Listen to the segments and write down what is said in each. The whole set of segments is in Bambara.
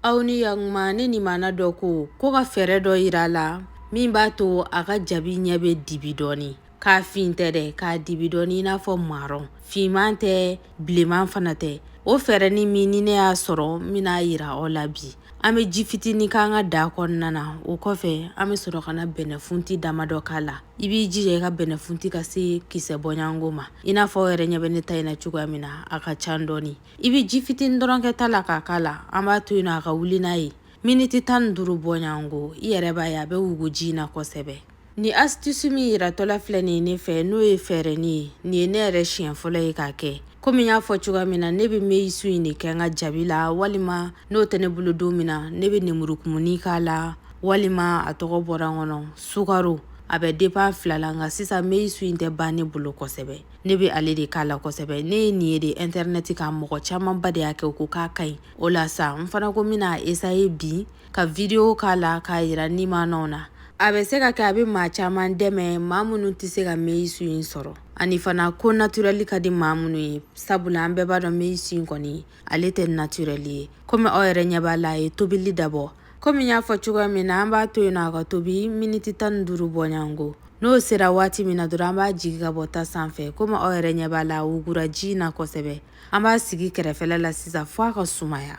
aw ni yakuma ne nimana dɔ ko ko ka fɛɛrɛ dɔ yira a la min b'a to a ka jabi ɲɛ bɛ dibi dɔɔni k'a fin tɛ dɛ k'a dibi dɔɔni i n'a fɔ marɔn finman tɛ bilenman fana tɛ o fɛɛrɛni min ni ne y'a sɔrɔ n bɛna a yira aw la bi an bɛ ji fitini k'an ka daga kɔnɔna na o kɔfɛ an bɛ sɔrɔ ka na bɛnɛfunti damadɔ k'a la i b'i jija i ka bɛnɛfunti ka se kisɛ bɔɲɔgɔnko ma i n'a fɔ aw yɛrɛ ɲɛ bɛ ne ta in na cogoya min na a ka ca dɔɔni i bɛ ji fitinin dɔrɔn kɛ ta la k'a k'a la an b'a to yen nɔ a ka wuli n'a ye miniti tan ni duuru bɔɲɔgɔnko i yɛrɛ b'a ye a bɛ wugu ji in na kosɛbɛ ni astuce min yiratɔla filɛ nin ye ne fɛ n'o ye fɛɛrɛni ye nin ye ne yɛrɛ siɲɛ fɔlɔ ye k'a kɛ komi n y'a fɔ cogoya min na ne bɛ meyisu in de kɛ n ka jabi la walima n'o tɛ ne bolo don min na ne bɛ nemurukumuni k'a la walima a tɔgɔ bɔra n kɔnɔ sukaro a bɛ depan fila la nka sisan meyisu in tɛ ban ne bolo kosɛbɛ ne bɛ ale de k'a la kosɛbɛ ne ye nin ye de intɛrɛnɛti kan mɔgɔ camanba de y'a kɛ u ko k'a ka ɲi o la sa n fana ko n bɛna a esaye bi ka vidiyo k'a la k'a yira nimanaw na a bɛ se ka kɛ a bɛ maa caman dɛmɛ maa minnu tɛ se ka meyisu in sɔrɔ ani fana ko naturɛli ka di maa minnu ye sabula an bɛɛ b'a dɔn meyisu in kɔni ale tɛ naturɛli ye komi aw yɛrɛ ɲɛ b'a la a ye tobili dabɔ komi n y'a fɔ cogoya min na an b'a to yen na a ka tobi miniti tan ni duuru bɔɲɔgɔnko n'o sera waati min na dɔrɔn an b'a jigi ka bɔ ta sanfɛ komi aw yɛrɛ ɲɛ b'a la a wugura ji in na kosɛbɛ an b'a sigi kɛrɛfɛla la sisan fɔ a ka sumaya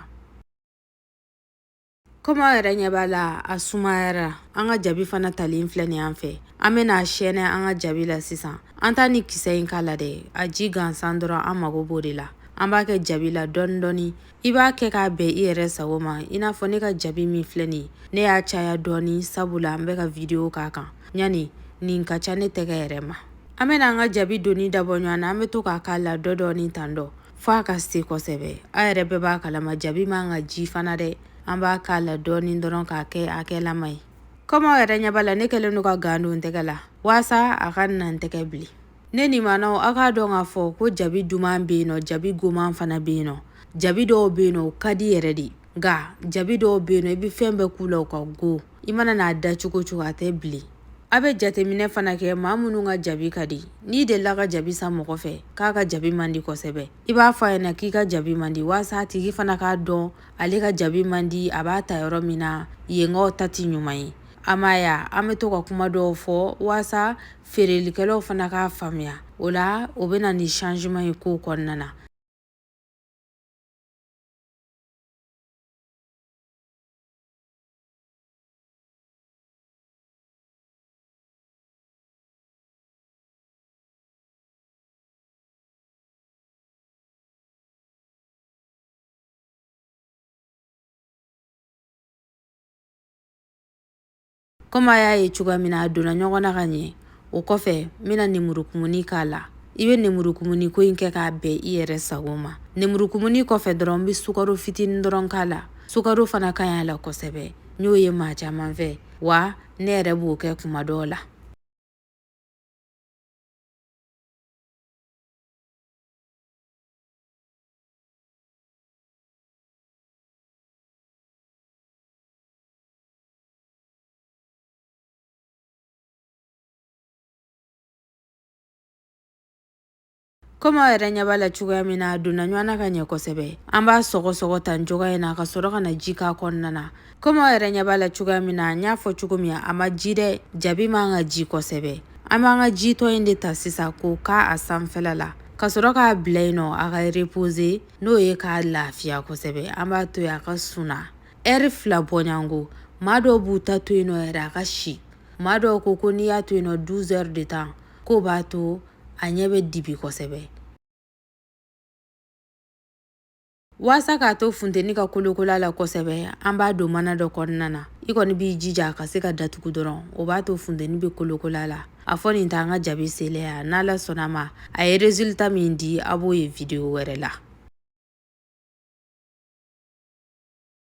komi aw yɛrɛ ɲɛ b'a la a sumayara an ka jabi fana talen filɛ nin an fɛ an bɛna a sɛnɛ an ka jabi la sisan an t'a ni kisɛ in k'a la dɛ a ji gansan dɔrɔn an mago b'o de la an b'a kɛ jabi la dɔɔni dɔɔni i b'a kɛ k'a bɛn i yɛrɛ sago ma i n'a fɔ ne ka jabi min filɛ nin ne y'a caya dɔɔni sabula n bɛ ka video k'a kan ɲani nin ka ca ne tɛgɛ yɛrɛ ma an bɛna an ka jabi donni dabɔ ɲɔgɔn na an bɛ to k'a k'a la dɔ dɔɔni tan dɔ fɔ a ka se kosɛbɛ aw yɛrɛ bɛɛ b'a kalama jabi man kan ka ji fana dɛ an b'a k'a la dɔɔnin dɔrɔn k'a kɛ a gɛlɛnma ye kɔmi aw yɛrɛ ɲɛ b'a la ne kɛlen don ka gan don n tɛgɛ la waasa a kana n tɛgɛ bilen ne nimanaw aw k'a dɔn k'a fɔ ko jabi duman bɛ yen nɔ jabi goman fana bɛ yen nɔ jabi dɔw bɛ yen nɔ o ka di yɛrɛ de nka jabi dɔw bɛ yen nɔ i bɛ fɛn bɛɛ k'u la u ka go i mana n'a da cogo o cogo a tɛ bilen aw bɛ jateminɛ fana kɛ maa minnu ka jabi ka di n'i delila ka jabi san mɔgɔ fɛ k'a ka jabi man di kosɛbɛ i b'a fɔ a ɲɛna k'i ka jabi man di waasa a tigi fana k'a dɔn ale ka jabi man di a b'a ta yɔrɔ min na yenkaw ta tɛ ɲuman ye a ma ya an bɛ to ka kuma dɔw fɔ waasa feerelikɛlaw fana k'a faamuya o la o bɛ na ni changement ye kow kɔnɔna na Komi a y'a ye cogoya min na a donna ɲɔgɔn na ka ɲɛ o kɔfɛ n bɛna nemurukumuni k'a la i bɛ nemurukumuni ko in kɛ k'a bɛn i yɛrɛ sago ma nemurukumuni kɔfɛ dɔrɔn n bɛ sukaro fitinin dɔrɔn k'a la sukaro fana ka ɲi a la kosɛbɛ n y'o ye maa caman fɛ wa ne yɛrɛ b'o kɛ kuma dɔw la komi aw yɛrɛ ɲɛ b'a la cogoya min na a donna ɲɔgɔn na ka ɲɛ kosɛbɛ an b'a sɔgɔsɔgɔ tan cogoya in na ka sɔrɔ ka na ji k'a kɔnɔna na komi aw yɛrɛ ɲɛ b'a la cogoya min na n y'a fɔ cogo min a ma ji dɛ jabi man ka ji kosɛbɛ an b'an ka jitɔ in de ta sisan k'o k'a sanfɛla la ka sɔrɔ k'a bila yen nɔ a ka repose n'o ye k'a lafiya kosɛbɛ an b'a to yen a ka suna ɛri fila bɔɲɔgɔnko maa dɔw b'u ta to yen nɔ yɛrɛ a ka si maa dɔw ko ko n'i y'a to yen nɔ 12 heures de temps k'o b'a to a ɲɛ bɛ dibi kosɛbɛ waasa k'a to funteni ka kolokola la kosɛbɛ an b'a don mana dɔ kɔnɔna na i kɔni b'i jija a ka se ka datugu dɔrɔn o b'a to funteni bɛ kolokola la a fɔ nin t'an ka jabi seleya n'ala sɔnna ma a ye résultat min di a b'o ye video wɛrɛ la